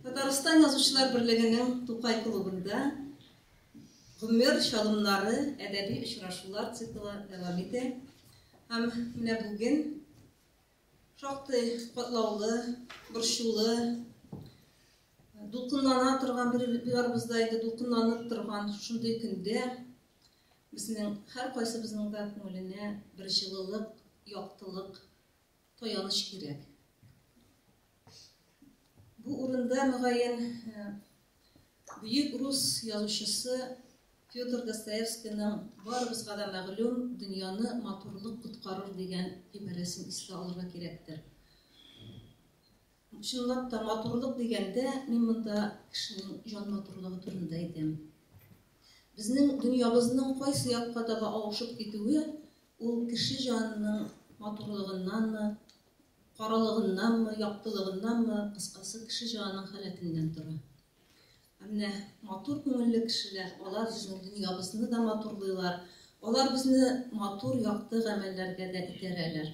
Татарстан Язучылар берлегенең Тукай клубында Гомер чалымнары әдәби очрашулар циклы дәвам итә. Һәм менә бүген шактый катлаулы, борчулы, дулкынлана торган бер барыбызда инде дулкынланып торган шундый көндә безнең һәркайсыбызның да күңеленә бер җылылык, яктылык Таяныч кирәк. Бу урында, мөгаен, э, бөек рус язучысы Федор Достоевскийның барыбызга да мәгълүм дөньяны матурлык коткарыр дигән гыйбарәсен искә алырга кирәктер. Чынлап та матурлык дигәндә, мин монда кешенең җан матурлыгы турында әйтәм. Безнең дөньябызның кайсы якка таба авышып китүе Ул кеше җанының матурлыгыннанмы, каралыгыннанмы, яктылыгыннанмы, кыскасы, кеше җанының халәтеннән тора. Ә менә матур күңелле кешеләр, алар безнең дөньябызны да матурлыйлар, алар безне матур, якты гамәлләргә дә итерәләр.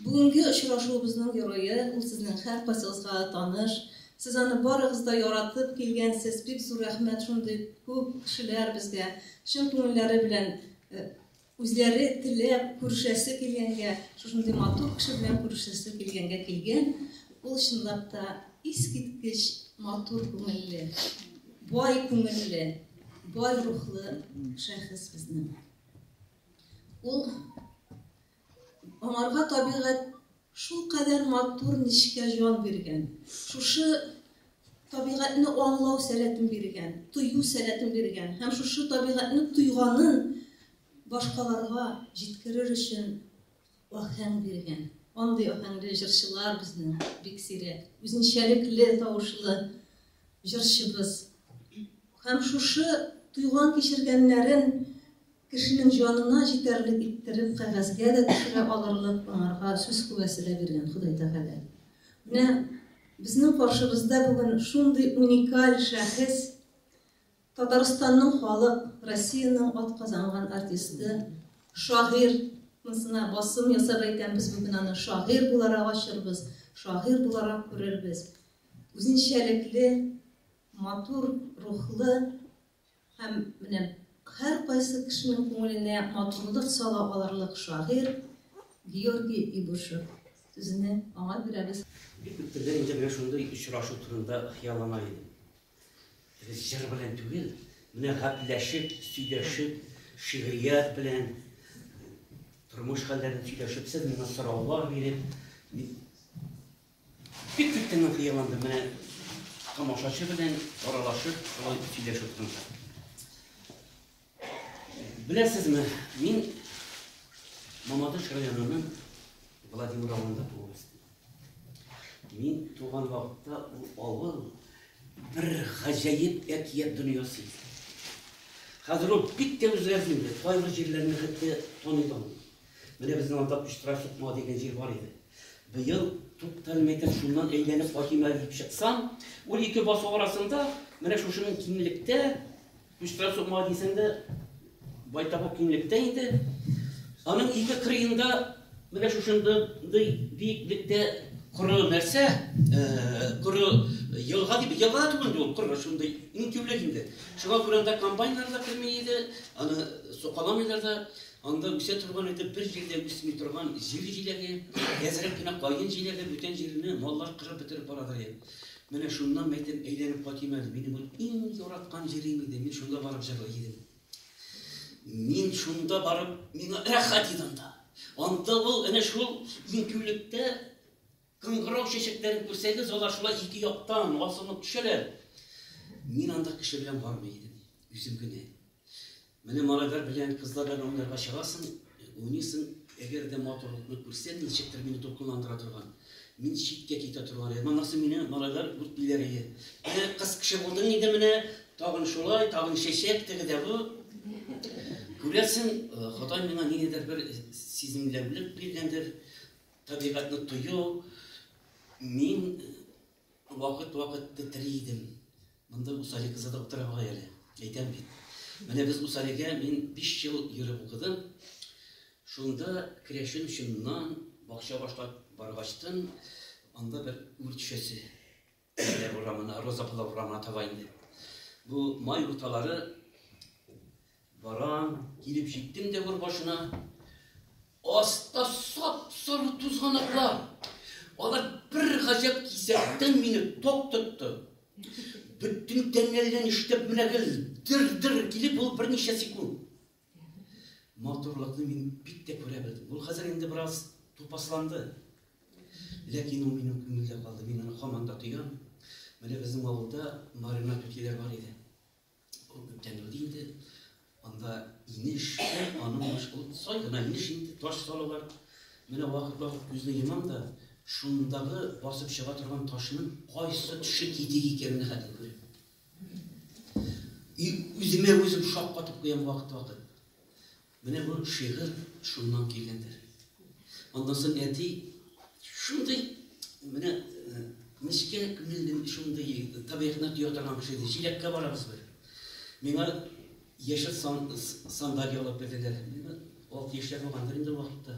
Бүгенге очрашуыбызның герое, ул сезнең һәркайсыгызга да таныш. Сез аны барыгыз да яратып килгәнсез. Бик зур рәхмәт шундый күп кешеләр безгә чын күңелләре белән э, үзләре теләп күрешәсе килгәнгә, шушындый матур кеше белән күрешәсе килгәнгә килгән. Ул чынлап та искиткеч матур күңелле, бай күңелле, бай рухлы шәхес безнең. Ул Аңарга табигать шулкадәр матур, нечкә җан биргән. Шушы табигатьне аңлау сәләтен биргән, тою сәләтен биргән һәм шушы табигатьне тойганын башкаларга җиткерер өчен ахәң биргән. Андый ахәңле җырчылар безнең бик сирәк. Үзенчәлекле тавышлы җырчыбыз. Һәм шушы туйган кичергәннәрен Кешенең җанына җитәрлек иттереп кәгазьгә дә төшерә алырлык аңарга сүз куәсе дә биргән Ходай Тәгалә. Менә безнең каршыбызда бүген шундый уникаль шәхес, Татарстанның халык, Россиянең атказанган артисты, шагыйрь, монысына басым ясап әйтәм, без бүген аны шагыйрь буларак ачырбыз, шагыйрь буларак күрербез. Үзенчәлекле, матур рухлы, Һәм менә һәркайсы кешенең күңеленә матурлык сала алырлык шагыйрь Георгий Ибушев сүзенә аңа бирәбез. Бик күптәндән инде менә шундый очрашу турында хыяллана идем. Без җыр белән түгел, менә гәпләшеп, сөйләшеп, шигърият белән, тормыш хәлләрен сөйләшеп, сез миңа сораулар биреп, Бик көткәннән хыялландым, менә тамашачы белән аралашып, шулай сөйләшеп тордым. Беләсезме, мин Мамадыш районының Владимир авылында туып үстем. Мин туган вакытта ул авыл бер гаҗәеп әкият дөньясы. Хәзер ул бик тә үзгәрде инде. Кайбер җирләрне хәтта таныдым. Менә безнең анда Пычтыра чыкма дигән җир бар иде. Быел тукталмайтын шуннан әйләнеп кайтыйм әле дип чыксам, ул ике басу арасында менә шушының киңлектә Пычтыра чыкма дисәң дә байтак киңлектә инде. Аның ике кырыенда менә шушында биеклектә коры нәрсә, коры елга дип елга түгел инде ул коры шундый иң тиүлек инде. Шуңа күрә анда комбайннар да керми иде, аны сукаламыйлар да. Анда үсә торган иде, бер җирдә үсми торган җир җиләге, әзрәк кенә каен җиләге, бүтән җирне маллар кырып бетереп барадыр иде. Менә шуннан мәйтәм әйләнеп кайтыйм әле, минем бу иң яраткан җирем иде, мин шунда барып җырлый идем. Мин шунда барып, миңа рәхәт иде анда. Анда ул әнә шул интүлектә Кыңгырау чәчәкләрен күрсәгез, алар шулай ике яктан асылынып төшәләр. Мин анда кеше белән бармый идем, үзем генә. Менә малайлар белән, кызлар белән уйнарга чыгасың, уйныйсың, әгәр дә матурлыкны күрсәң, ничектер мине дулкынландыра торган, мин читкә китә торган идем. Монысы мине малайлар үртиләр иде. Менә кыз кеше булдың инде менә, тагын шулай, тагын чәчәк теге дә бу. Күрәсең, э, Ходай миңа ниндидер бер сиземләүлек биргәндер. Табигатьне тою, мин вакыт-вакыт тетри идем. Монда Усали кызы да утыра бугай әле. Әйтәм бит. Менә без Усалигә мин 5 ел йөреп укыдым. Шунда керәшен чыннан бакча башлап баргачтын, анда бер үрчәсе. Әниләр урамына, Розаклар урамына таба инде. Бу май урталары барам, килеп җиттем дә бер башына. Аста сап-сары тузганаклар. Алар бер гаҗәп кисәктән мине ток тотты. Бөтен тәннәрдән иштеп менә гел дер-дер килеп ул берничә секунд. матурлыкны мин бик тә күрә белдем. Ул хәзер инде бераз тупасланды. Ләкин ул минем күңелдә калды, мин аны һаман да тоям. Менә безнең авылда Марина түтиләр бар иде. Ул күптән үлде инде. Анда инеш, аның баш ул сай гына инеш инде, таш салалар. Менә вакыт-вакыт күзне йомам да, шундагы басып чыга торган ташның кайсы төше китек икәнен хәтер күрәм. И үземә үзем шаккатып куям вакыт-вакыт. Менә бу шигырь шуннан килгәндер. Аннан соң әти шундый менә э, нечкә күңелле шундый табигатьне тоя торган кеше иде. Җиләккә барабыз бер. Миңа яшел сандалия алып бирделәр. Миңа алты яшьләр булгандыр инде ул вакытта.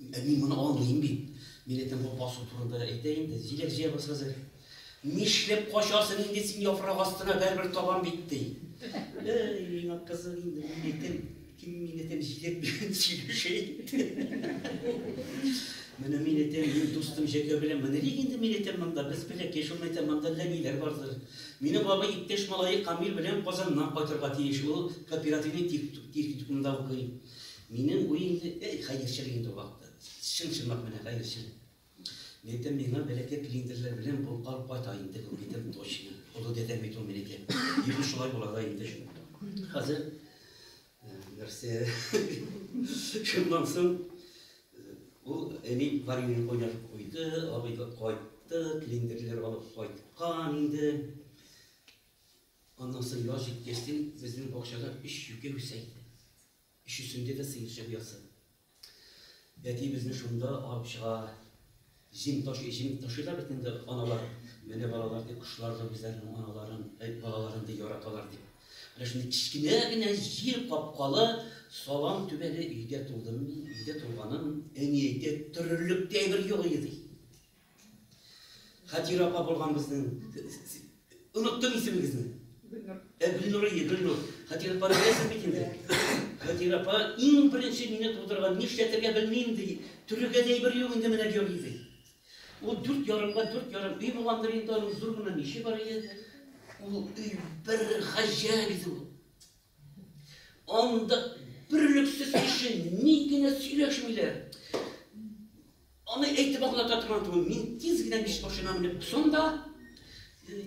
Ә мин моны аңлыйм бит. Милләтне бу басу турында әйтә инде. Җиләк җыябыз хәзер. Нишләп качасың инде син яфрак астына, бәрбер табам бит, ди. Әй, миңа кызык инде милләтем. Ким милләтем җиләк белән сөйләшә инде. Менә милләтем, мин дустым Җәкә белән менә ник инде милләтем монда, без бәләкәй, шул мәктәп монда әллә ниләр бардыр. Мине бабай иптәш малае Камил белән Казаннан кайтырга тиеш. Ул кооперативный техникумда укый. Минем уемны, әй, хәерчелек инде ул акты. Чын-чынлап менә хәерчелек. Мәйтәм, миңа бәләкәй клиндерләр белән булып калып кайта инде бу, әйтәм, точно. Олы дәдәм бит ул минеке. Диде, шулай була да инде. Хәзер нәрсә? Шуннан соң ул әни варенье кайнар куйды, абый да кайтты, клиндерләр алып кайткан инде. Аннан соң яз җиткәч, безнең бакчада өч юкә үсә иде. Өчесендә дә сыерчык оясы. Әти безне шунда алып чыга. Җим ташый, җим ташыйлар бит инде аналар. Менә балалар дип кошлар да үзләренең аналарын, әй, балаларын ди яраталар дип. Менә шундый кечкенә генә җир капкалы салам түбәле өйдә тудым мин, өйдә туганым, әни әйтә, төрерлек тә әйбер юк иде ди. Хәтирә апа булган безнең. Оныттым исемегезне. Гөлнур. Ә Гөлнурия, Гөлнур. Хәтирә апа беләсез бит инде. Хәтирә апа иң беренче мине тудырган, нишләтергә белмим ди. Төрергә дә әйбер юк инде менә Георгий ди. Ул дүрт ярымга дүрт ярым өй булгандыр инде, аның зур гына миче бар иде. Ул өй бер гаҗәп иде ул. Анда бөрлексез кеше ни генә сөйләшмиләр. Аны әйтеп аңлата торган түгел. Мин тиз генә биш машина менеп кусам да,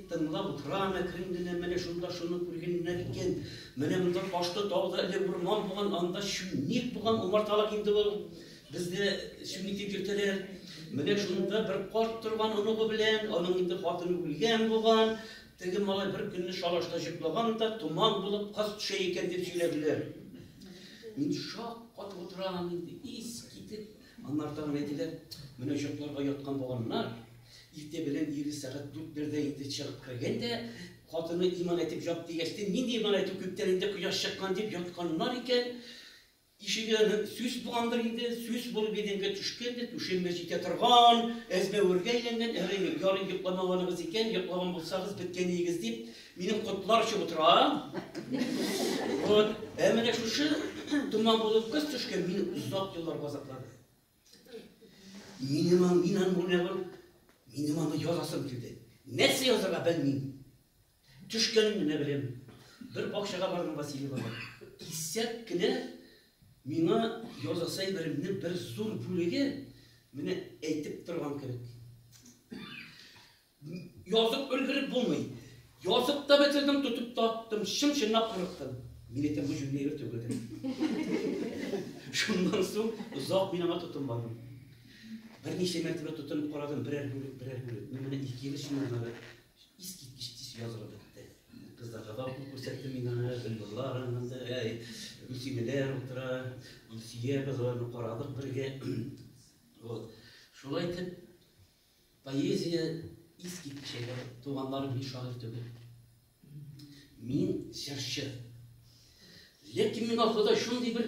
тыңлап утырам, әкрен генә менә шунда шуны күргәннәр икән. Менә монда ташты тауда эле урман булган, анда чүнник булган, умарталык инде ул. Бездә чүнник дип йөртәләр. Менә шунда бер карт торган оныгы белән, аның инде хатыны үлгән булган. Теге малай бер көнне шалашта җоклаган да, томан булып, каз төшә икән дип сөйләделәр. Мин шак катып утырам, инде ис китеп. Аннары тагын әйтелә, менә җокларга яткан булганнар, иртә белән ире сәгать дүртләрдә инде чыгып кергән дә, хатыны иман әйтеп ят дигәч, нинди иман әйтү, күптән инде кояш чыккан дип ятканнар икән. Ишеге сүс булгандыр инде, сүс булып идәнгә төшкән дә, түшәмгә җитә торган, әзмәвергә әйләнгән, әгәр ярый йокламаганыгыз икән, йоклаган булсагыз, беткәниегез дип, минем котлар очып утыра. Вот. Ә менә шушы томан булып кыз төшкән, мине озак еллар газаплады. Минем мин аны минем аны язасым килде. Нәрсә язарга белмим. Төшкәнен генә беләм. Бер бакчага бардым Василий бабай. Кисәк кенә миңа язасы әйберемнең бер зур бүлеге менә әйтеп торган кебек. Язып өлгереп булмый. Язып та бетердем, тотып та аттым, чын-чынлап курыктым. Мин әйтәм, бу җүнле егет түгелдер. Шуннан соң озак мин аңа тотынмадым. Берничә мәртәбә тотынып карадым, берәр бүлек, берәр бүлек. Ну, менә ике ел эчендә Искиткеч тиз язылып бетте. Кызларга да укып күрсәттем мин аны, Гөлнурлар анда, әй, Гөлсинәләр утыра, Илсөя кызларны карадык бергә. Вот. Шулай итеп, поэзия искиткеч әйбәт. Туганнарым һич шагыйрь түгел. Мин җырчы. Ләкин миңа Ходай шундый бер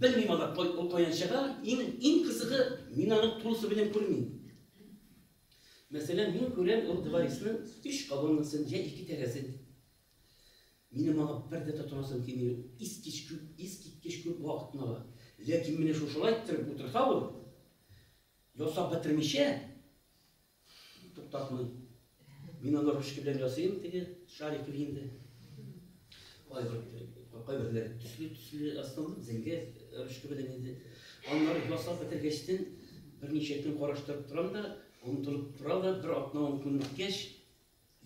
Белмим алар каян чыга, иң иң кызыгы, мин аны тулысы белән күрмим. Мәсәлән, мин күрәм ул дворецның өч колоннасын, я ике тәрәзен. Минем аңа бер дә тотынасым килми, искич күп, искиткеч күп вакытны ала. Ләкин менә шушылай иттереп утырса ул, ясап бетермичә, Туктатмый. Мин аны ручка белән ясыйм, теге шарик инде. Кайберләр төсле-төсле астылып, зәңгә ручка белән инде. Аннары ясап бетергәчтен берничә көн караштырып торам да, онытылып тора да, бер атна-он көн үткәч,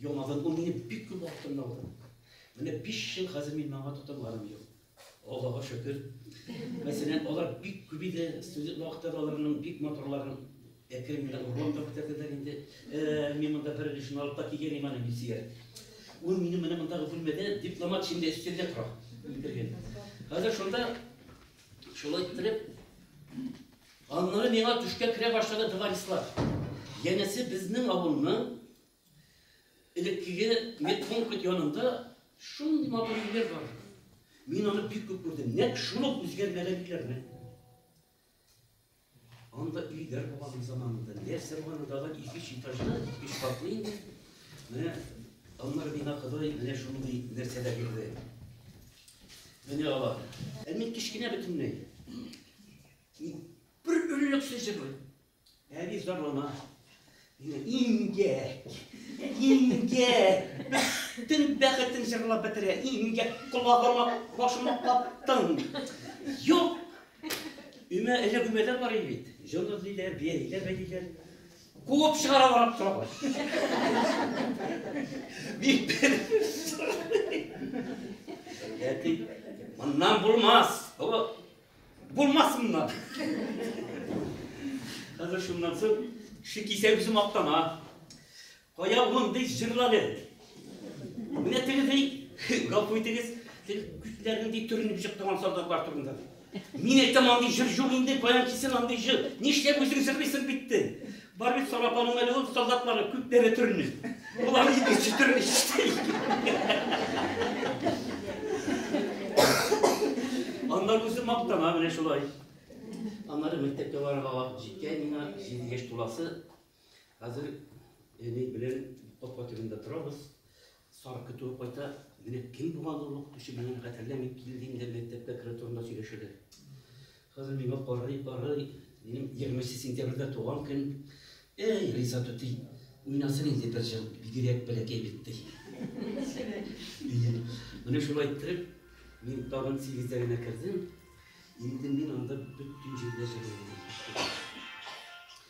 Яңадан ул мине бик күп вакытымны алды. Менә биш ел хәзер мин моңа тотынганым юк. Аллага шөкер. Мәсәлән, алар бик күп иде, студент вакытта да аларның бик матурларын әкрен генә урлап та бетерделәр инде. Э, мин монда бер өлешен алып та килгән иман мин сөяр. Ул минем менә мондагы бүлмәдә дипломат шимдә өстәлдә тора. Кергән. Хәзер шунда шулай иттереп Аннары миңа төшкә керә башлады товарислар. Янәсе безнең авылның элеккеге медпункт янында шундый матур өйләр бар. Мин аны бик күп күрдем. Нәк шул ук үзгәрмәгән өйләрне. Анда өйләр булган заманында, нәрсә булган анда да ике этажлы, өч катлы инде. Менә аннары миңа Ходай менә шундый нәрсәләр бирде. Менә алар. Ә мин кечкенә бөтенләй. Бер өлелек сүзе бу. Әби зарлана. Имгәк. Имгәк. Бөтен бәхетен җырлап бетерә. Имгәк колагыма башыма каптың. Юк. Өмә эле гөмәләр бар иде бит. Җон эзлиләр, биялиләр, бәйлиләр. Куып чыгара барып торалар. Бик Әти, моннан булмас. Бу Булмасыннар. Хәзер шуннан соң ши кисә үзе мактана. Кая мондый җырланы? Менә тегездей гафу итегез, сез күзләрнең ди төренеп чыктыган солдатлар турында. Мин әйтәм, андый җыр юк инде, баян кисен андый җыр. Нишләп үзең җырлыйсың битте? Бар бит сарапаның әле ул солдатлары күп дәрә төрне. Улар иде читер ишти. Аннар үзе мактана менә шулай. Аннары мәктәпкә барырга вакыт җиткән миңа 7 яшь туласы. Хәзер әни белән капка төбендә торабыз. Сара көтүгә кайта, менә кем булган ул ук кеше белән хәтерлә мин килдем дә мәктәпкә керә турында сөйләшәләр. Хәзер миңа карый, карый, минем 20 сентябрьдә туган көн. Эй, Риза түти, уйнасын инде бер җыр, бигрәк бәләкәй бит ди. Менә шулай иттереп, мин тагын сигездә генә кердем. Инде мин анда бөтен җирдә җырлыйм.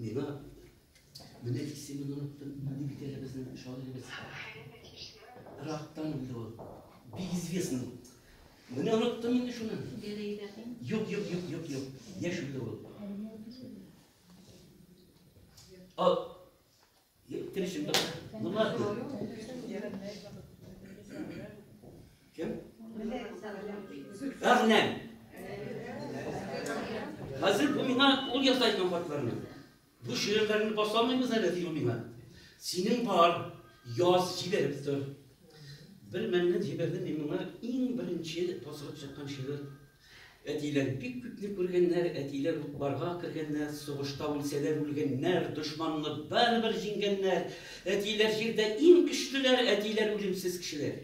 Миңа менә исемен оныттым, ни бит әле безнең шагыйребез. Рактан үлде ул. Бик известный. Менә оныттым инде шуны. Юк, юк, юк, юк, юк. Яшь үлде ул. Ал. Гагнем. Хәзер бу миңа ул яза икән хатларны. Бу шигырьләрне басалмыйбыз әле ди ул миңа. Синең бар, яз җибәреп тор. Бер мәлне җибәрдем мин моңа иң беренче басылып чыккан шигырь Әтиләр бик күпне күргәннәр, әтиләр утларга кергәннәр, сугышта үлсәләр үлгәннәр, дошманны барыбер җиңгәннәр. Әтиләр җирдә иң көчлеләр, әтиләр үлемсез кешеләр.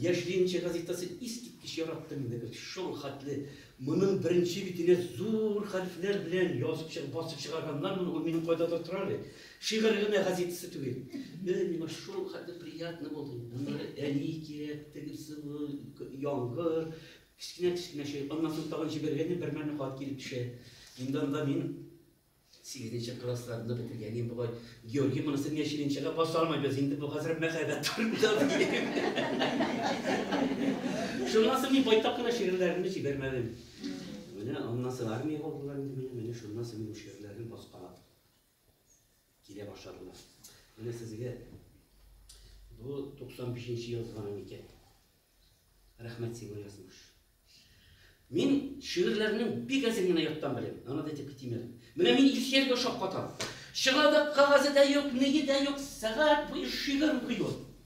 Яшьлиенче газетасы искиткеч яратты мине без, шул хәтле моның беренче битенә зур хәрефләр белән язып чыгып, басып чыгарганнар моны, ул минем кайдадыр тора әле. Шигырь генә газетасы түгел. Менә миңа шул хәтле приятно булды. Монда әни кирәк, тегесе яңгыр, кечкенә-кечкенә чөй. Аннан соң тагын җибәргәннән бер мәлне хат килеп төшә. Инде анда мин сигезенче классларны бетергән. Мин бугай Георгий монысы миңа чилинчәгә баса алмыйбыз. Инде бу хәзер мәхәббәт турында. Шуннан соң мин байтак кына шигырьләремне җибәрмәдем. Менә аннан соң армия булдылар инде. Менә шуннан соң мин шигырьләрне баскалап Килә башладылар. Менә сезгә бу 95 нче язган икән. Рәхмәт сиңа язмыш. Мин шигырьләрнең бик әзен генә яттан беләм. Ана да типке тимер. Менә мин Илсияргә ошап катам. Чыгардык кагазы да юк, нигеде дә юк, сәгать буе шигырь укыйбыз.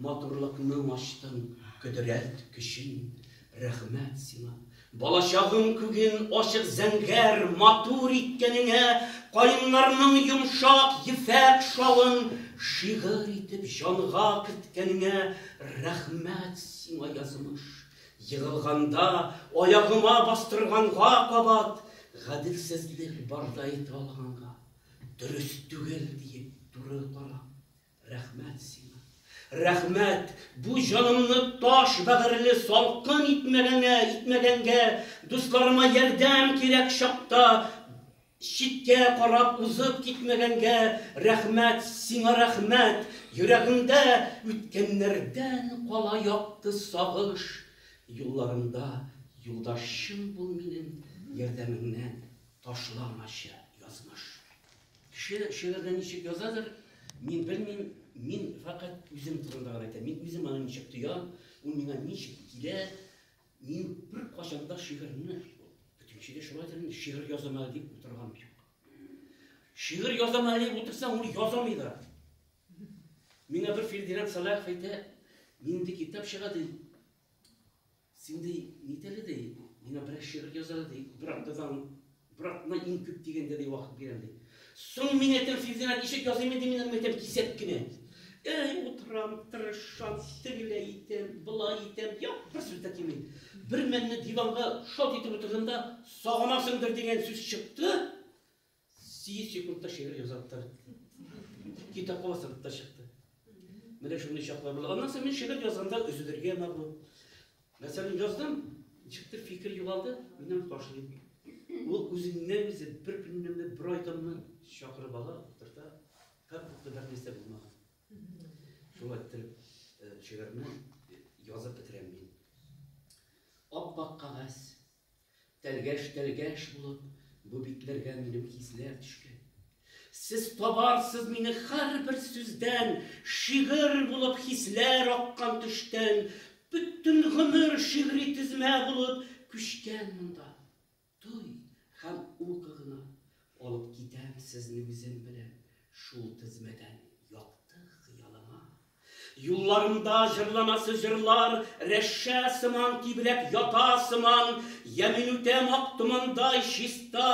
Матурлыкның ачтың кодрәт көчен, рәхмәт сиңа. Балачагым күген ачык зәңгәр матур иткәнеңә, каеннарның йомшак ефәк шалын шигырь итеп җанга керткәнеңә рәхмәт сиңа, язмыш. Егылганда аягыма бастырганга кабат, гаделсезлек барда әйтә алганга, дөрес түгел диеп туры карап. Рәхмәт сиңа! Рәхмәт, бу җанымны таш бәгырьле салкын итмәгәңә, итмәгәнгә, дусларыма ярдәм кирәк чакта читкә карап узып китмәгәнгә, рәхмәт, сиңа рәхмәт, йөрәгемдә үткәннәрдән кала якты сагыш, юлларымда юлдашым бул минем, ярдәмеңнән ташламачы язмыш. Кеше шигырьне ничек язадыр, мин белмим, мин фәкать үзем турында гына әйтәм. Мин үзем аны ничек тоям, ул миңа ничек килә. Мин беркайчан да шигырьне бөтенче дә шулайдыр инде, шигырь язам әле дип утырган юк. Шигырь язам әле дип утырсаң, ул язамый да. Миңа бер Фирдинат Салахов әйтә, нинди китап чыга ди. Син ди, нит әле ди, миңа берәр шигырь яз әле ди, бер атнадан, бер атна иң күп дигәндә ди вакыт бирәм ди. Соң мин әйтәм, Филзинә, ничек языйм инде мин аны әйтәм, кисәк кенә. Әй, утырам, тырышам, тегеләй итәм, болай итәм, юк, бер сүз дә килми. Бермәлне диванга шалт итеп утырдым да, сагынасыңдыр дигән сүз чыкты. Сигез секундта шигырь язып та бетте. Китап каласырып та чыкты. Менә шундый чаклар була. Аннан соң мин шигырь язганда өзелергә ма бу? Мәсәлән, яздым, чыкты фикер югалды, минем ташлыйм. Ул үзеннән үзе бер көннән бер айданмы чакырып ала, утырта, как будто бер нәрсә булмаган. Шулай итеп э, шигырьне язып бетерәм мин. Ап-ак кагаз, Тәлгәш-тәлгәш булып бу битләргә минем хисләр төшкән. Сез табарсыз мине һәрбер сүздән, шигырь булып хисләр аккан төштән, бөтен гомер шигъри тезмә булып күчкән монда. Туй һәм укы гына алып китәм сезне үзем белән шул тезмәдән якты хыялыма. Юлларында җырланасы җырлар Рәшә сыман тибрәп ята сыман, Йә минүтә мак томандай чиста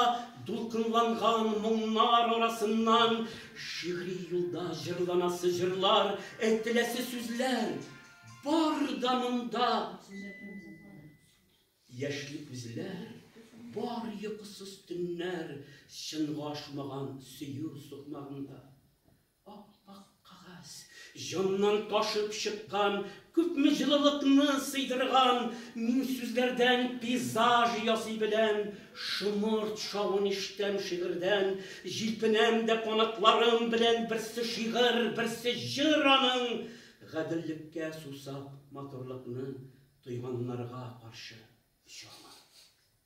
Дулкынланган моңнар арасыннан. Шигъри юлда җырланасы җырлар, Әйтеләсе сүзләр бар да монда. Яшьли күзләр, бар йокысыз төннәр, Чынга ашмаган сөю сукмагында. Ап-ак кагаз, җаннан ташып чыккан, Күпме җылылыкны сыйдырган, Мин сүзләрдән пейзаж ясый беләм, Шомырт шавын ишетәм шигырьдән, Җилпенәм дә канатларым белән, Берсе шигырь, берсе җыр аның, Гаделлеккә сусап, матурлыкны Тойганнарга каршы очырмын.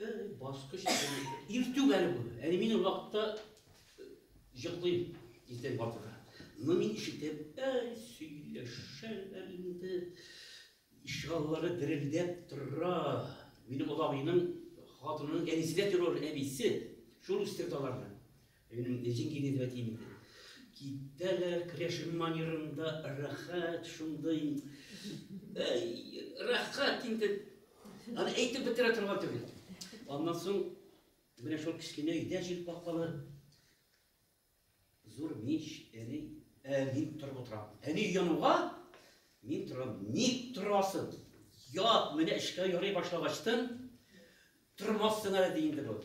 Бер ул баскыч иртүк әле бу. Әле мин ул вакытта җыклыйм иртән бардыра. Но мин ишетеп, әй, сөйләшәләр инде. Ишегаллары дерелдәп тора. Минем олабыйның хатынының әнисе дә террор әбисе. Шул үстерде аларны. Минем үзем кигезеп әйтим инде. Китәләр Крешин манерында рәхәт, шундый рәхәт инде. Аны әйтеп бетерә торган түгел. Аннан соң менә шул кечкенә өйдә җил капкалы зур мич, әни, ә мин торып утырам. Әни януга мин торам. Ник торасың? Ят, менә эшкә ярый башлагачтын, Тормассың әле, ди инде бу.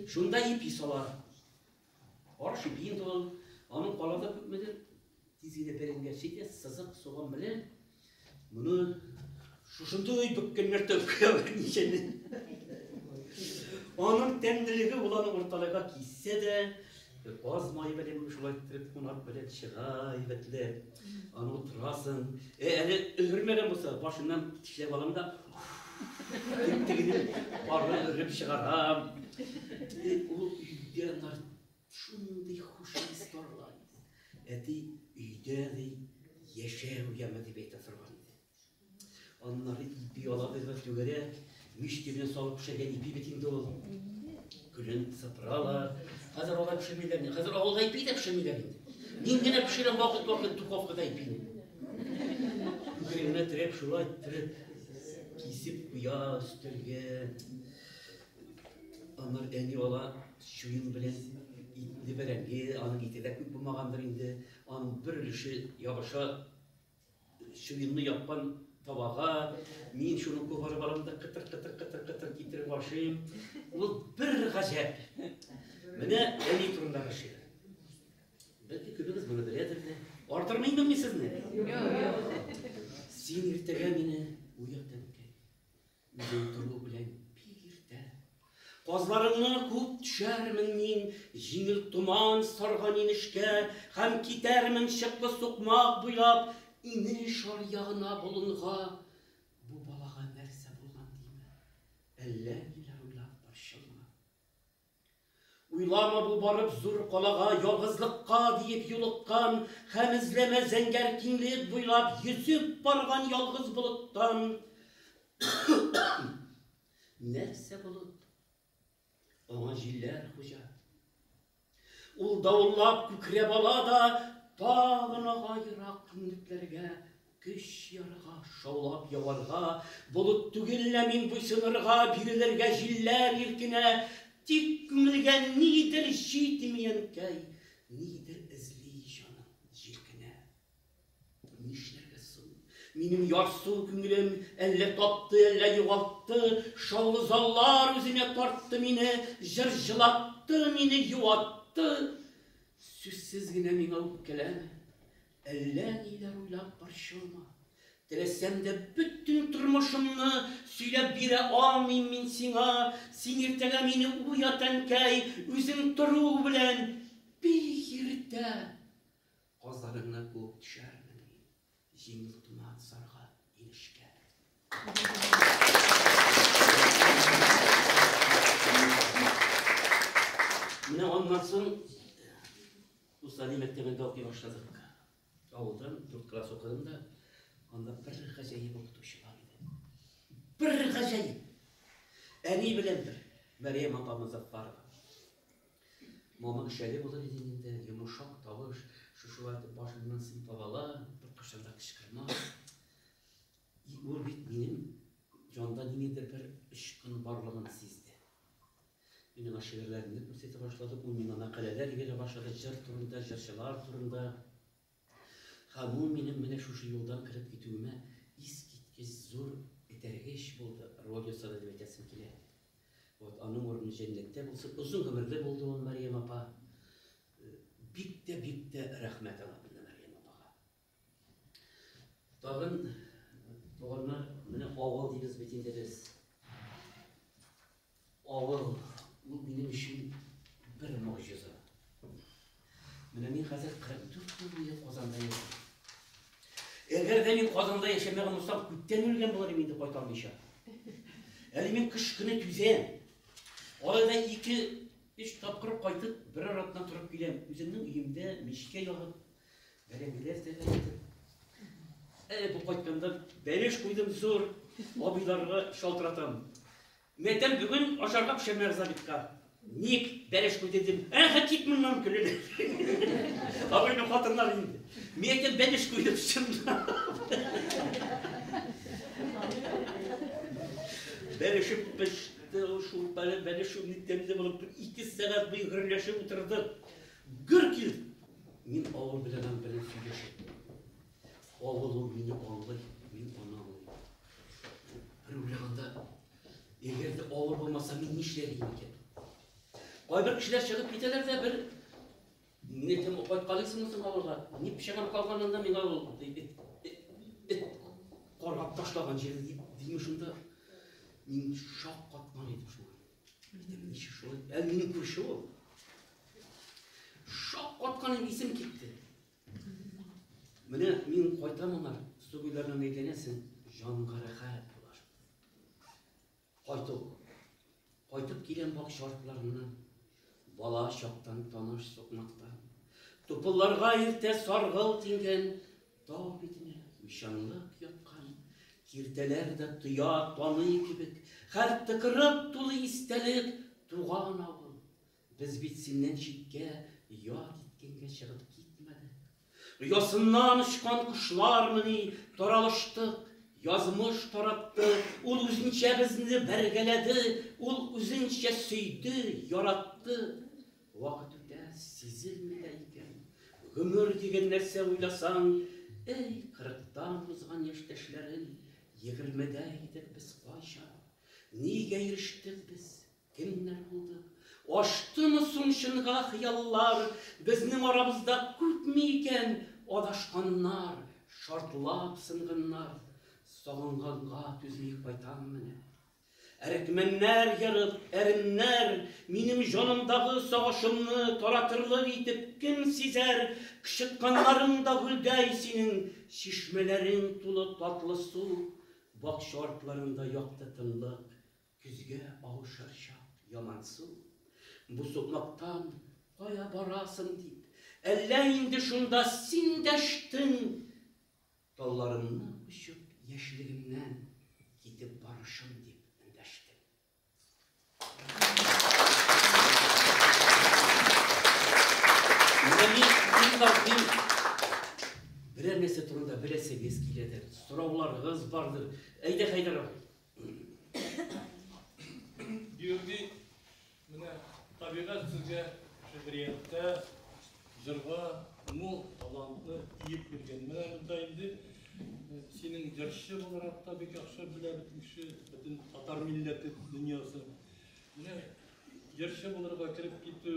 Шунда ипи сала. Арыш ипиен тонын, аның калада күпмедер, тиз генә бәрәнгә читә, сызык, суган белән, моны шушындый бүккеннәртеп куялар ничәне. Аның тәмлелеге ул аны урталайга киссе дә, каз мае белән шулай иттереп кунак белән чыга әйбәтләп. Аны утырасың. Э, әле өлгермәгән булса, башыннан тешләп алам да. Тегене барлы өреп чыгарам. Э, ул өйдә нар шундый хушыз барлар. Әти өйдә ди яшәү яме дип әйтә торган. Аннары ипи алабыз бер түгәрәк, мич төбенә салып пешергән ипи бит инде ул. Көлен сыпыралар. Хәзер алай пешермиләр. Хәзер авылда ипи дә пешермиләр инде. Мин генә пешерәм вакыт-вакыт духовкада ипине. Күкрегенә терәп, шулай тереп, кисеп куя өстәлгә. Аннар әни ала чуен белән итне бәрәңге, аның ите дә күп булмагандыр инде. Аның бер өлеше ябыша Чуенны япкан табага, мин шуны кубарып алам да кытыр-кытыр-кытыр-кытыр китереп ашыйм. Ул бер гаҗәп. Менә әни турындагы шигырь. Бәлки күбегез моны беләдер дә. Артырмыймын мин сезне? Юк, юк. Син иртәгә мине уят әнкәй. Үзең тору белән бик иртә. Казларыңны күп төшәрмен мин, Җиңел томан сарган инешкә, Һәм китәрмен чыклы сукмак буйлап, Инеш аръягына болынга. Бу балага нәрсә булган димә, Әллә ниләр уйлап борчылма. Уйлама бу барып зур калага ялгызлыкка диеп юлыккан һәм эзләмә зәңгәр киңлек буйлап йөзеп барган ялгыз болыттан. Нәрсә болыт? Аңа җилләр хуҗа. Ул давыллап күкрәп ала да тагын ага ерак киңлекләргә Көч ярга, шаулап яварга, Болыт түгел лә мин буйсынырга, Бирелергә җилләр иркенә, Тик күңелгә нидер җитми, әнкәй, Нидер эзли җаным җилкенә. Нишләргә соң? Минем ярсу күңелем Әллә тапты, әллә югалтты, Шаулы заллар үзенә тартты мине, Җыр җылатты, мине юатты. Сүзсез генә миңа үпкәләмә, Әллә ниләр уйлап борчылма. Теләсәм дә бөтен тормышымны сөйләп бирә алмыйм мин сиңа. Син иртәгә мине уят, әнкәй, үзең тору белән бик иртә казаныңны куып төшәрмен мин җиңел томан сарга инешкә. Менә аннан соң Усали мәктәбендә укый башладык. Авылдан дүрт класс укыдым да, анда бер гаҗәеп укытучы бар иде. Бер гаҗәеп. Әни белән бер Мәриям апамыз Зафарова. Мама шәле булыр иде инде, йомышак тавыш, шушылай итеп башыннан сыйпап ала, беркайчан да кычкырма. И ул бит минем җанда ниндидер бер очкын барлыгын сизде. Мин миңа шигырьләремне күрсәтә башлады, ул миңа мәкаләләр ибәрә башлады, җыр турында, җырчылар турында. Һәм ул минем менә шушы юлдан кереп китүемә искиткеч зур этәргеч булды. Родио саны дип әйтәсем килә. Вот, аның урыны җәннәттә булсын. Озын гомерле булды ул Мәрьям апа. Бик тә, бик тә рәхмәт аңа. Тагын туганнар, менә авыл дибез бит инде без. Авыл, ул минем өчен бер могҗиза. Менә мин хәзер 44 ел буе Казанда яшим. Әгәр дә мин Казанда яшәмәгән булсам, күптән үлгән булыр идем инде кайталмыйча. Әле мин кыш көне түзәм. Арада ике, өч тапкыр кайтып, бер аратна торып киләм. Үземнең өемдә мичкә ягып, Бәрәңгеләр тәгәрәде. Әле бу кайтканда бәлеш куйдым зур, абыйларга шалтыратам. Мәтәм бүген ашарга пешермә Заритка. Ник бәлеш куйды дим. Әһә кит моннан көлен. Абыйның хатыннар инде. Мәтәм бәлеш куйды чынлап. Бәлешеп пеште, шулпалы бәлеш шуны тәмле булып, ике сәгать буе гөрләшеп утырдык. Гөр кил! Мин авыл белән аң белән сөйләшеп булмый. Авыл ул мине аңлый, мин аны аңлыйм. Бер уйлаганда, эгер дә авыл булмаса, мин нишләр идем икән? Кайбер кешеләр чыгып китәләр дә бер Мине кем кайткалыйсыңмы соң авылга? Ни пешәгән калганнан да миңа ул эт каргап ташлаган җир дими шунда. Мин шаккатман идем шуңа. Минем ничек шулай? Ә минем күрше ул. Шак атканым исем китте. Менә мин кайтам аңа, сугыйлардан әйләнәсең, җанга рәхәт булар. Кайту. Кайтып киләм бак шартларыннан, бала чактан таныш сукмактан. Тупылларга иртә саргыл тиңгән, Тау битенә уйчанлык яткан киртәләр дә тоя, таный кебек, хәл тыкырып тулы истәлек, туган авыл. Без бит синнән читкә я киткәнгә чыгып китмәдек. Оясыннан очкан кошлармыни таралыштык, язмыш таратты, ул үзенчә безне бәргәләде, ул үзенчә сөйде, яратты. Вакыт үтә, сизелми дә икән. Гомер диген нәрсә уйласаң, Әй, кырыктан узган яшьтәшләрем, Егермедә идек без кайчан? Нигә ирештек без, кемнәр булдык? Ачтымы соң чынга хыяллар, Безнең арабызда күпме икән Адашканнар, шартлап сынганнар? Сагынганга түзми кайтам менә. Әрекмәннәр ерып, әремнәр, Минем җанымдагы сагышымны Таратырлык итеп кем сизәр? Кычытканнарың да гөлдәй синең, Чишмәләрең тулы татлы су, Бакча артларында якты тынлык, Көзгә авышыр чак ямансу. Бу сукмактан кая барасың дип, Әллә инде шунда син дәштең? Талларымнан очып яшьлегемнән китеп барышым дип эндәштем. Берәр нәрсә турында беләсегез киләдер, сорауларыгыз бардыр. Әйдә, Хәйдәр абый. Георгий Менә табигать сезгә шигърияттә, җырда мул талантны иеп биргән. Менә монда инде синең җырчы буларак та бик яхшы белә бит кеше, бөтен татар милләте дөньясы. Менә җырчы булырга кереп китү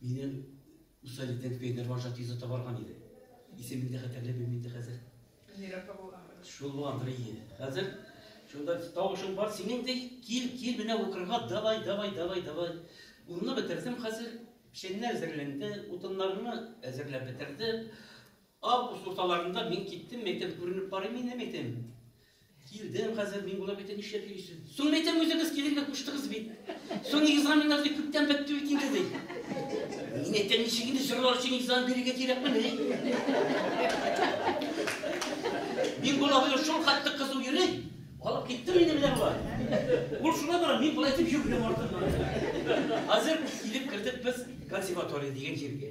Мине Уса Лиденко Инер Маржа тизо табарган иде. Исемен дә хәтерләп белмим инде хәзер. Нирәкә булган? Шул булгандыр ие. Хәзер шунда тавышың бар синең ди, кил, кил менә укырга, давай, давай, давай, давай. Унны бетердем хәзер, печәннәр әзерләнде, утыннарны әзерләп бетерде. Август урталарында мин киттем, мәйтәм, күренеп карыйм инде, мәйтәм. Килдем хәзер, мин була мәйтәм, нишләп йөрисең? Соң мәйтәм, үзегез килергә куштыгыз бит. Соң экзаменнар дип күптән бетте бит инде, ди. Мин әйтәм, ничек инде җырлар өчен экзамен бирергә кирәкме, ди. Мин була белән шул хәтле кызу йөри, алып киттем инде менә була. Ул шуна бара, мин болай итеп йөргән артыннан. Хәзер килеп кердек без консерватория дигән җиргә.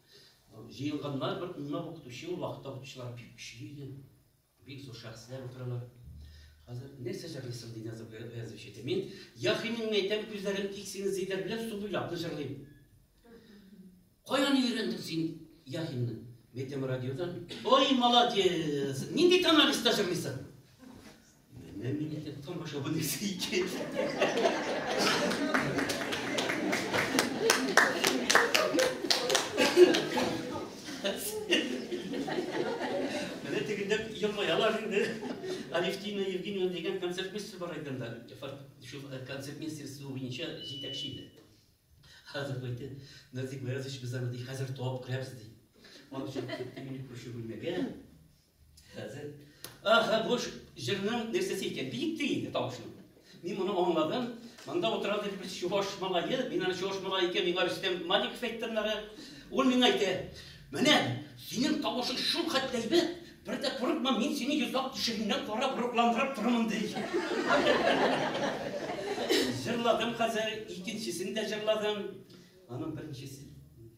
Җыелганнар бер көнне укытучы ул вакытта укытучылар бик көчле иде. Бик зур шәхесләр утыралар. Хәзер нәрсә җырлыйсың дигән зур вәз ишетте. Мин яхинеңне әйтәм, күзләрем тик синең зидер белән су буйлап җырлыйм. Каян өйрәндең син яхинне? Мәйтәм радиодан. Ой, молодец! Нинди тональста җырлыйсың? Менә мин яткан баша бу нәрсә икән. Менә тегендә елмаялар инде. Алевтина Евгеньевна дигән концертмейстер бар иде анда. Шул э, концертмейстерство буенча җитәкче иде. Хәзер әйтте, Назик Ваязович без аны хәзер табып керәбез ди. Аны чыгып китте мине күрше бүлмәгә. Хәзер. Аха, бу җырның нәрсәсе икән? Биек ти инде тавышның. Мин моны аңладым. Монда утыра дип бер чуваш малае, мин аны чуваш малае икән, миңа Рөстәм Маликов әйттернәре. Ул миңа әйтә, "Менә синең тавышың шул хәтле әйбәт, бер дә курыкма, мин сине йозак тишегеннән карап рухландырып торырмын", ди. Җырладым хәзер, икенчесен дә җырладым. Аның беренчесе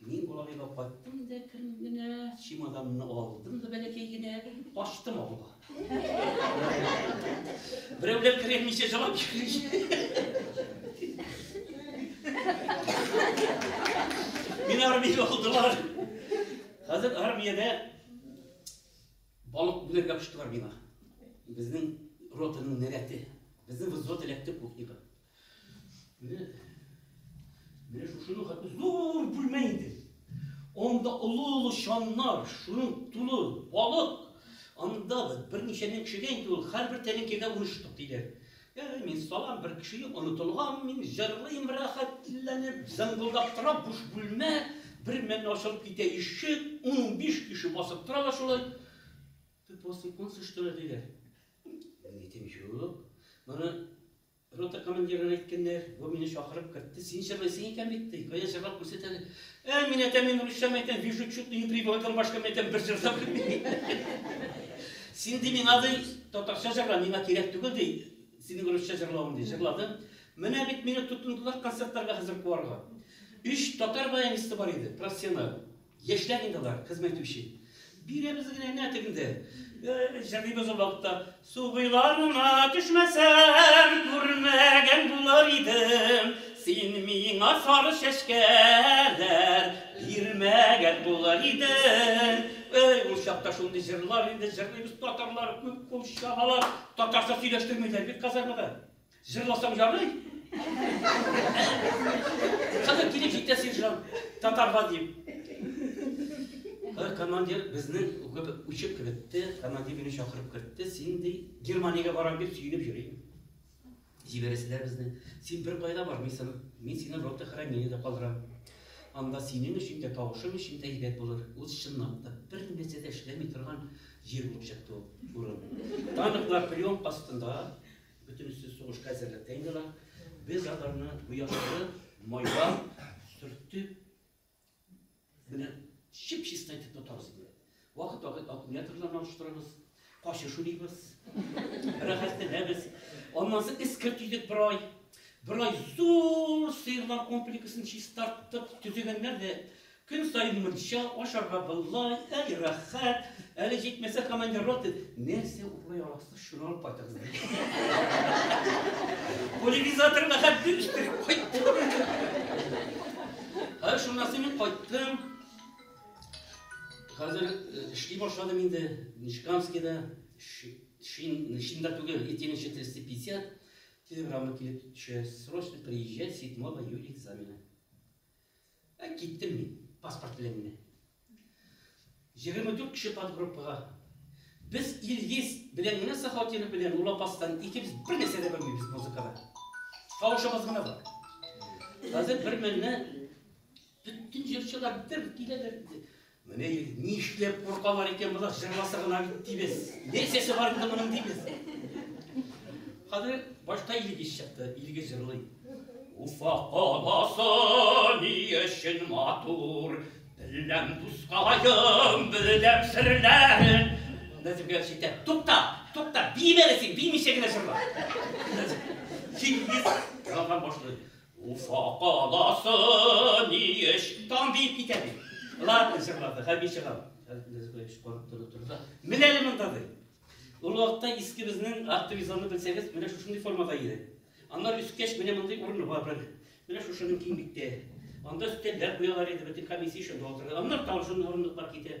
Мин Болагайга кайттым да кем генә, чемоданны алдым да бәләкәй генә качтым авылга. Берәүләр керәлмичә җылап Мин армиягә алдылар. Хәзер армиядә балык бүләргә куштылар миңа. Безнең ротаның нәрәте. Безнең взвод эләкте кухняга. Менә менә шушы хәтта зур бүлмә инде. Анда олы-олы чаннар, шуның тулы балык. Анда берничә мең кешегә инде ул һәрбер тәлинкәгә ун штук диләр. Яни мин салам бер кеше юк, онытылган, мин җырлыйм рәхәтләнеп, зыңгылдап тора буш бүлмә, бер мәлне ачылып китә ишек, 15 кеше басып торалар шулай. Ты после конца что ли диләр. Мин әйтәм, юк. Моны Рота командирына әйткәннәр, бу мине чакырып кертте, син җырлыйсың икән бит, ди, кая җырлап күрсәт әле. Ә, мин әтәм, мин русча мәйтәм, вижу чуть ли не приболган башка мәйтәм, бер җыр да белмим. Син ди миңа ди, татарча җырла, миңа кирәк түгел ди, синең русча җырлавың ди, җырладым. Менә бит мине тотындылар концертларга хәзер куарга. Өч татар баянисты бар иде, профессиональ. Яшьләр инде алар, хезмәт итүче. Бирәбез генә нә тегендә. Җырлыйбыз ул вакытта. Су буйларына төшмәсәм, күрмәгән булыр идем. Син миңа сары чәчкәләр бирмәгән булыр идең. Эй, ул чакта шундый җырлар инде җырлыйбыз, татарлар күп кул чабалар. Татарча сөйләштермиләр бит казармада. Җырласаң ярый. Хәзер килеп җитә сержант, татарга дип. Командир безнең учып кертте, командир мине чакырып кертте, син ди Германиягә барам дип сөенеп йөри. Җибәрәселәр безне. Син бер кайда бармыйсың, мин сине рота хранениедә калдырам. Анда синең өчен дә, тавышың өчен дә әйбәт булыр. Ул чынлап та бер нәрсә дә эшләми торган җир булып чыкты ул урын. Танклар прием астында, Бөтенесе сугышка әзерлек тә инде алар. Без аларны бу яклары майлап, төртеп, менә чип-чиста итеп тотабыз инде. Вакыт-вакыт аккумуляторларны алыштырабыз, кашыш уйныйбыз, рәхәтләнәбез. Аннан соң эскерт идек бер ай. Бер ай зур сыерлар комплексын чистарттык, төзегәннәр дә Көн саен мунча ашарга болай, әй рәхәт, әле җитмәсә командир роты, нәрсә урлый аласыз, шуны алып кайтыгыз әле. Пульверизаторга хәтле иттереп кайттым. Һәр шуннан соң мин кайттым. Хәзер э, эшли башладым инде Нишкамскийда, шинда түгел, идти ниче 350 телеграмма килеп төшә, срочно приезжай 7 июля экзамена. Ә киттем мин, паспорт белән генә. Егерме дүрт кеше подгруппага. Без Илгиз белән генә Сахатинов белән Ул Апастан икебез бер нәрсә дә белмибез музыкада. Тавышыбыз гына бар. Хәзер бер мәлне бөтен җырчылар бер киләләр. Менә инде нишләп куркалар икән болар, җырласа гына бит дибез. Не сесе бар инде моның дибез. Хәзер башка илгиз чыкты, илгиз җырлый. Уфа каласы ни өчен матур, беләм дускалаем, беләм серләрен. Нәзик белән шитә. Тукта, тукта, бимәле син, бимичә генә җырла. Илгиз ялган башлый. Уфа каласы ни эш? Тан диеп китә ди. Ладно, чыгарды, хәби чыгар. Нәзбәевич корып торып торды. Мин әле монда ди. Ул вакытта иске безнең активизаны белсәгез, менә шушындый формада иде. Аннар үскәч, менә мондый урыны бар бер. Менә шушының киңлектә. Анда өстәлләр куялар иде, бөтен комиссия шунда утырды. Аннар тагын шундый урындыклар китә.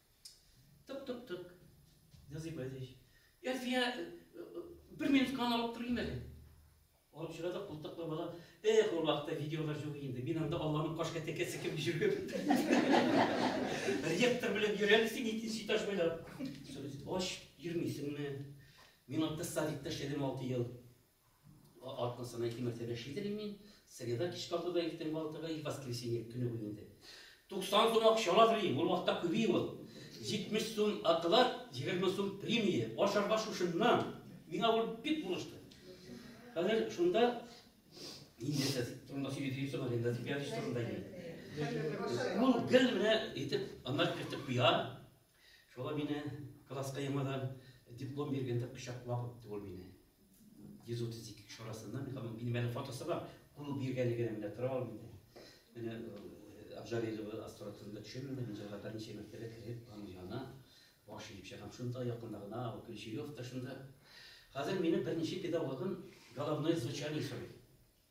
Тык, тык, тык. Назыйб Азич. Әлфия, э, э, бер минут кан алып торыйм әле. Алып чыга да култыклы бала. Эх, ул вакытта видеолар юк инде. Мин анда Алланың каш кәтәкә сикеп җөргән. Ректор белән йөрәлсең икенче этаж буйлап. Ач йөрмисеңме? Мин анда садикта эшләдем 6 ел. Атна саен ике мәртәбә чийдерим мин. Среда кичке алтыда, иртәнге алтыга и воскресенье көне буе инде. Туксан сум акча ала Грим, ул вакытта күби ул. Җитмеш сум оклад, егерме сум премия. Ашарга шушыннан. Миңа ул бик булышты. Хәзер шунда Индеца турында сөйли дип соң, Аренда Зипиадич турында иде. Ул гел менә итеп, анлар кертеп куя. Шулай мине класска яңадан диплом биргәндә кочаклап үтте ул мине. 132 кеше арасында минем әле фотосы бар. Кулы биргәне генә менә тора ул мине. Менә Абжарилова астротында төшемне мин җырга берничә мәртәбә кереп, аның янына баш иеп чыгам. Шунда якында гына ул Ключеев та шунда. Хәзер мине берничә педагогым головное звучание сорый.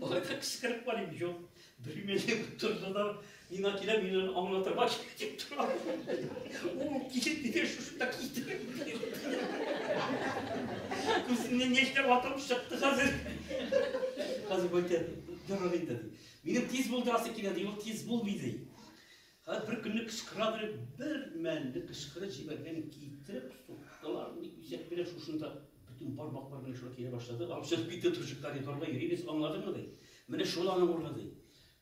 Алай да кычкырып барыйм, юк. Бермәле тордылар, мина килә, мин аны аңлатырга китеп торам. Ул килеп нигә шушы так китереп. Күзеннән яшьләр атып чыкты хәзер. Хәзер әйтә, ярар инде. Минем тиз булдырасы килә, ди, ул тиз булмый ди. Хәзер бер көнне кычкыра дип, бер мәлне кычкырып җибәргән китереп суктылар, ник бизәк белән шушында бөтен бармаклар белән шулай килә башлады. Алып чыгып китте турчыкка, ди, торда йөрибез, аңладыңмы, ди. Менә шул аның урыны, ди.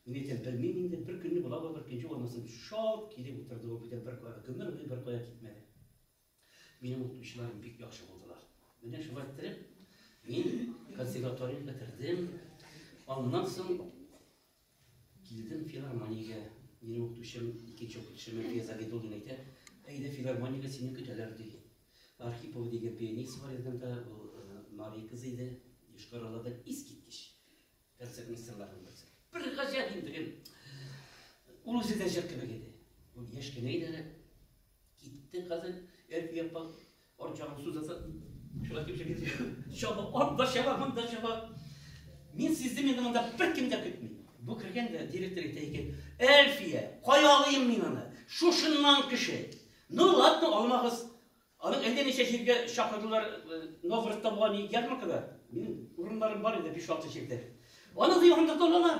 Мин әйтәм, белмим инде, бер көнне була була бер көнче булмасын, шалт килеп утырды ул, бүтән бер кая, гомер буе бер кая китмәде. Минем укытучыларым бик яхшы булдылар. Менә шулай иттереп, мин консерватория бетердем. Аннан соң килдем филармониягә. Минем укытучым, икенче укытучым Мәлия Загидуллина әйтә, әйдә филармониягә сине көтәләр ди. Архипова дигән пианист бар иде анда, ул э, Мария кызы иде, Йошкар-Олада искиткеч концертмейстерларның берсе. Бер гаҗәп инде, ул үзе дә җыр кебек иде. Ул яшь кенә иде әле. Китте хәзер Әлфи апа арчагын сузаса, шулай дип шәкәр. Чаба, анда чаба, монда чаба. Мин сиздем инде монда беркем дә көтми. Бу кергән дә директор әйтә икән, Әлфия, кая алыйм мин аны? Шушыннан кеше. Ну ладно, алмагыз. Аны әллә ничә җиргә чакырдылар, э, Новгородта була ни ярмаркада. Минем урыннарым бар иде 5-6 җирдә. Аны да янында торалар.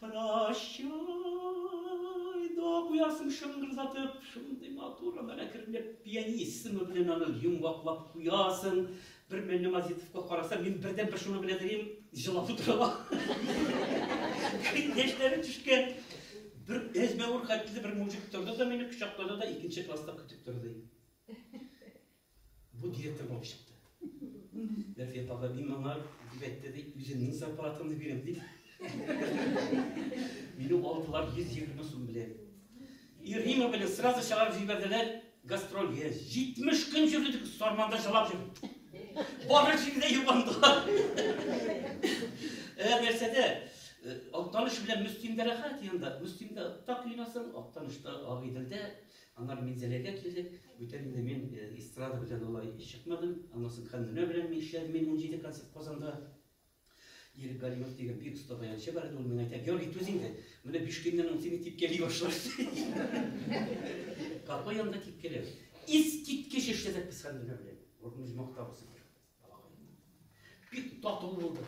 Прощай, дога куясың шыңгырдатып, шундый матур ана әкренләп пианино исеме белән аны йомгаклап куясың. Бер мәлне Мазитовка карасам, мин бердән бер шуны белә дөрим, җылап утырыла. Яшьләре төшкән. Бер әзмәвер хәтле бер мужик торды да мине кочаклады да икенче класста көтеп торды. Бу директор булып чыкты. Нәфия апа, мин моңа дип әйтте, ди, үземнең зарплатамны бирәм, ди. Мине алдылар 120 сум белән. И Рима белән сразу чыгарып җибәрделәр гастрольгә. 70 көн йөрдек, Сарманда чалап йөрдек. Бары җиңдә юбандылар. Әр нәрсәдә Актаныш белән Мөстимдә рәхәт янда. Мөстимдә так юнасың, Актанышта Агыйделдә Аннары Минзәләгә килдек. Бүтән инде мин эстрада белән алай чыкмадым. Аннан соң Хәнүнә белән мин эшләдем мин унҗиде концерт Казанда. Ирек Галимов дигән бик оста баянчы бар иде, ул миңа әйтә, Георгий, түз инде, менә биш көннән ул сине типкәли башлар. Капка янында типкәләү. Искиткеч эшләдек без Хәнүнә белән. Урын үзмактабыз. Бик тату булды.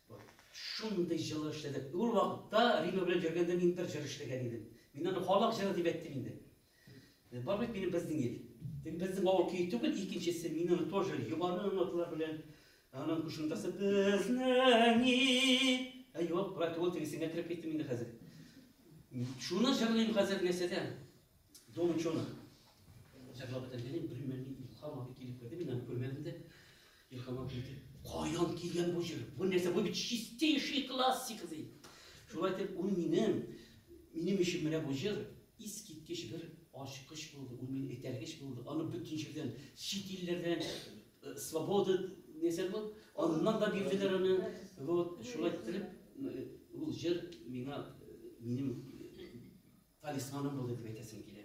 Вот шундый җылы эшләде. Ул вакытта Рима белән йөргәндә мин бер җыр эшләгән идем. Мин аны халык җыры дип әйттем инде. Э, бар бит минем безнең ил. Тик безнең авыл көе түгел, икенчесе мин аны тоже югары ноталар белән аның кушымтасы безнең ил. Ә юк, брат, ул тегесенә кереп киттем инде хәзер. Шуны җырлыйм хәзер нәрсәдә? Дом ученых. Җырлап бетергән, белмәдем, илһам абый килеп керде, мин аны күрмәдем дә. Илһамга бирде. Каян килгән бу җыр? Бу нәрсә? Бу бит чистейший классика ди. Шулай итеп, ул минем минем өчен менә бу җыр искиткеч бер ачкыч булды, ул мине этәргеч булды. Аны бөтен җирдән, чит илләрдән, э, свобода нәрсә бу? Аннан да бирделәр аны. Вот, шулай итеп, э, ул җыр миңа э, минем талисманым булды дип әйтәсем килә.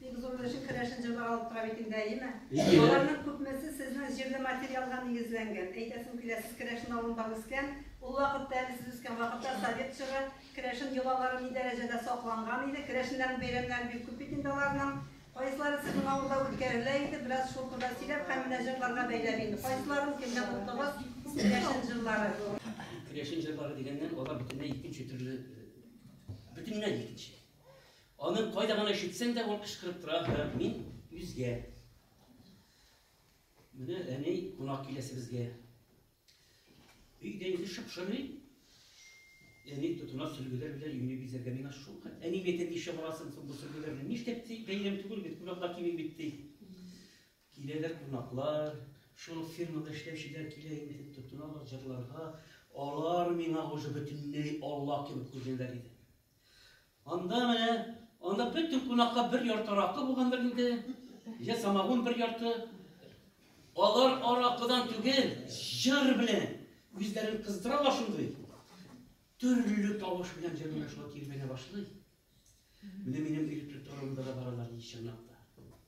Бик зур өлеше керәшен җырлары алып тора бит инде, әйеме? Әйе. Аларның күпмесе сезнең җирле материалга нигезләнгән. Әйтәсем килә, сез керәшен авылында үскән, ул вакытта, әле сез үскән вакытта совет чоры керәшен йолалары ни дәрәҗәдә сакланган иде, керәшеннәрнең бәйрәмнәре бик күп бит инде аларның. Кайсылары сезнең авылда үткәрелә иде, бераз шул турыда сөйләп һәм менә җырларга бәйләп инде. Кайсыларын кемнән оттыгыз, керәшен җырлары? Керәшен җырлары дигәннән, алар бөтенләй икенче төрле, бөтенләй икенче. Аның кайда гына ишетсәң дә ул кычкырып тора, һәм мин үзгә. Менә әни кунак киләсе безгә. Өйдә инде шыпшырый. Әни тотына сөлгеләр белән өйне бизәргә миңа шул. Әни әйтә, ничә барасың соң бу сөлгеләрне? Нишләп ти, бәйрәм түгел бит, кунаклар килми бит ди. Киләләр кунаклар, шул фирмада эшләүчеләр килә инде тотыналар җырларга. Алар миңа уже бөтенләй Алла кебек күренәләр иде. Анда менә, анда бөтен кунакка бер ярты аракы булгандыр инде, йә самагун бер ярты. Алар аракыдан түгел, җыр белән үзләрен кыздыралар шундый. Төрле тавыш белән җырлар шулай килгәнә башлый. Менә минем электр торымда да баралар ич чынлап та.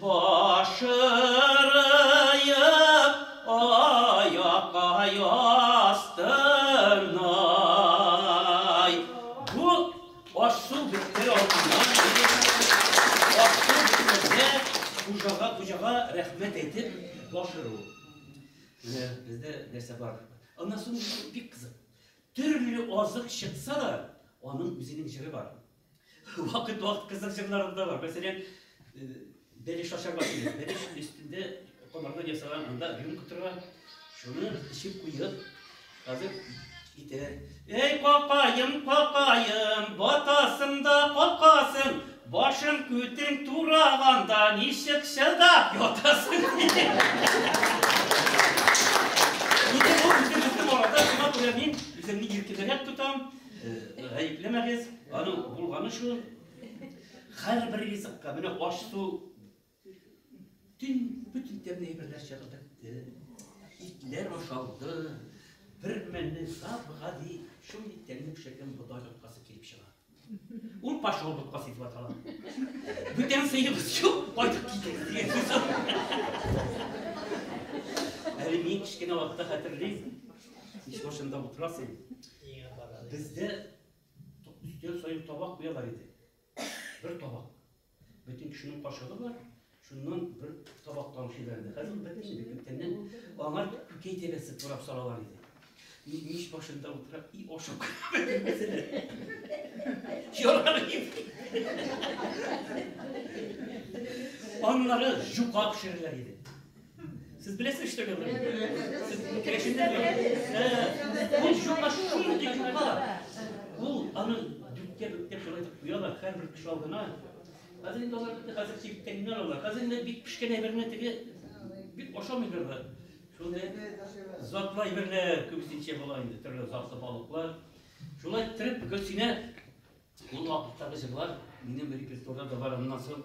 Башырыеп аякка ястырнай. Бу аш-су бетер алдыннан аш-су бетмәсә, хуҗага хуҗага рәхмәт әйтеп башыру. Менә бездә нәрсә бар. Аннан соң бик кызык. Төрле азык чыкса да, аның үзенең җыры бар. Вакыт-вакыт кызык җырларым да бар. Мәсәлән, бәлеш ашарга кирәк. Бәлеш өстендә комардан ясаган анда рюмка тора. Шуны эчеп куеп, хәзер китә. Эй, какаем, какаем, батасың да какасың, башың күтең тураганда ничек чыдап ятасың? Инде бу үзебезнең арада шуңа күрә мин үземне иркенрәк тотам. Гаеплемәгез, аның булганы шул. Хәр бер ризыкка менә аш су төн бүтән тәмле әйберләр чыгып бетте. Итләр ашалды. Бер мәлне саф гади шундый тәмле пешергән бодай боткасы килеп чыга. Ул пошел боткасы дип атала. Бүтән сыйыбыз юк, кайтып китегез дигән сүз. Әле мин кечкенә вакытта хәтерлим. Иш башында утырасың. Бездә өстәл саен табак куялар иде. Бер табак. Бөтен кешенең кашыгы бар, шуннан бер табак тамчы бәрде. Хәзер ул бетте инде күптәннән. Аңа күкәй тәбәсе турап салалар иде. Мич башында утырып, и ашап Ярар Аннары жука пешерәләр иде. Сез беләсез что говорит? Ул юка шундый юка. Ул аны дүткә дүткә шулай итеп куялар, һәрбер кеше алдына. Хәзер инде алар бит хәзер сиптәңнәр алар. Хәзер инде бик пешкән әйберне теге бик ашамыйлар да. Шундый затлы әйберләр күбесенчә була инде, төрле затлы балыклар. Шулай итеп Гөлсинә ул вакыттагы җырлар минем репертуарда да бар. Аннан соң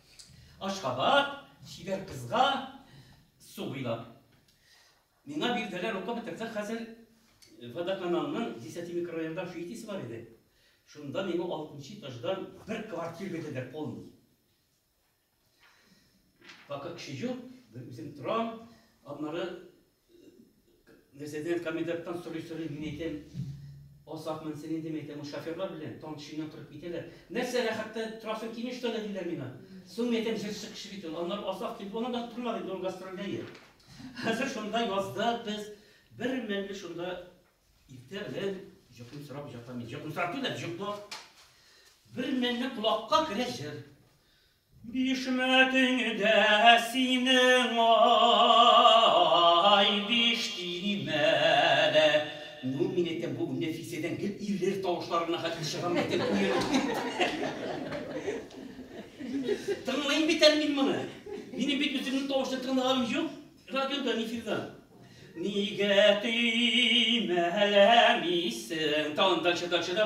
Ашхабад, чибәр кызга су буйлап. Миңа бирделәр укып бетерсәк хәзер э, водоканалның 10 микрорайонда шуйтисе бар иде. Шунда миңа 6 этаждан бер квартир бирделәр полный. Пока кеше юк, үзем торам, аннары Нәзердин коменданттан сорый-сорый, мин әйтәм, Азакмын син инде, мин әйтәм, шоферлар белән таң төшеннән торып китәләр. Нәрсә рәхәттә торасың кими, что ли, диләр миңа. Соң мин әйтәм, җырчы кеше бит ул. Аннары Азак килеп, аны да тормады инде, ул гастрольдә иде. Хәзер шунда язда без бер мәлне шунда иртә белән җокымсырап ятам. Җокымсырап түгел, җоклап. Бер мәлне колакка керә җыр. Бишмәтең дә синең, ай, биш төймәле. Ну, мин әйтәм, бу Нәфисәдән гел ирләр тавышлары гына хәтле чыгамы икән, күңелем. Тыңлыйм бит әле мин моны. Минем бит үземнең тавышны тыңлаганым юк радиодан, эфирдан. Нигә төймәләмисең? Тагын дальше, дальше да.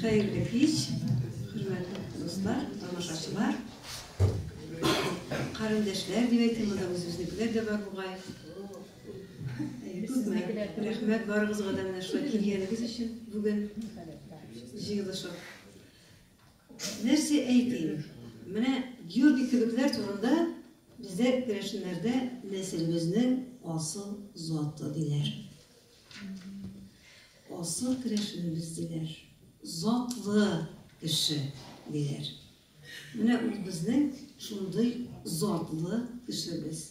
Хәерле кич, хөрмәтле дуслар, тамашачылар, карендәшләр дип әйтим, монда үзебезнекеләр дә бар бугай. Күпме рәхмәт барыгызга да менә шулай килгәнегез өчен бүген җыелышып. Нәрсә әйтим, менә Георгий кебекләр турында бездә керәшеннәрдә нәселебезнең асыл заты диләр. Асыл керәшенебез диләр. Затлы кеше диләр. Менә ул безнең шундый затлы кешебез.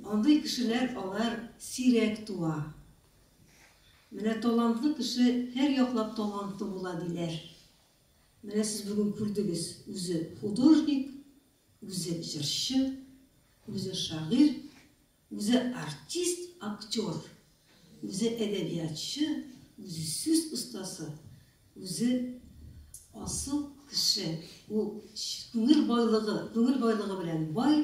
Андый кешеләр алар сирәк туа. Менә талантлы кеше һәр яклап талантлы була диләр. Менә сез бүген күрдегез, үзе художник, үзе җырчы, үзе шагыйрь, үзе артист, актер, үзе әдәбиятчы, үзе сүз остасы, үзе асыл кеше. Ул күңел байлыгы, күңел байлыгы белән бай,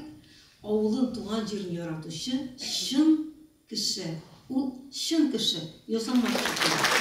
авылын, туган җирен яратучы, чын Кеше. Ул чын кеше. Ясамаш кеше.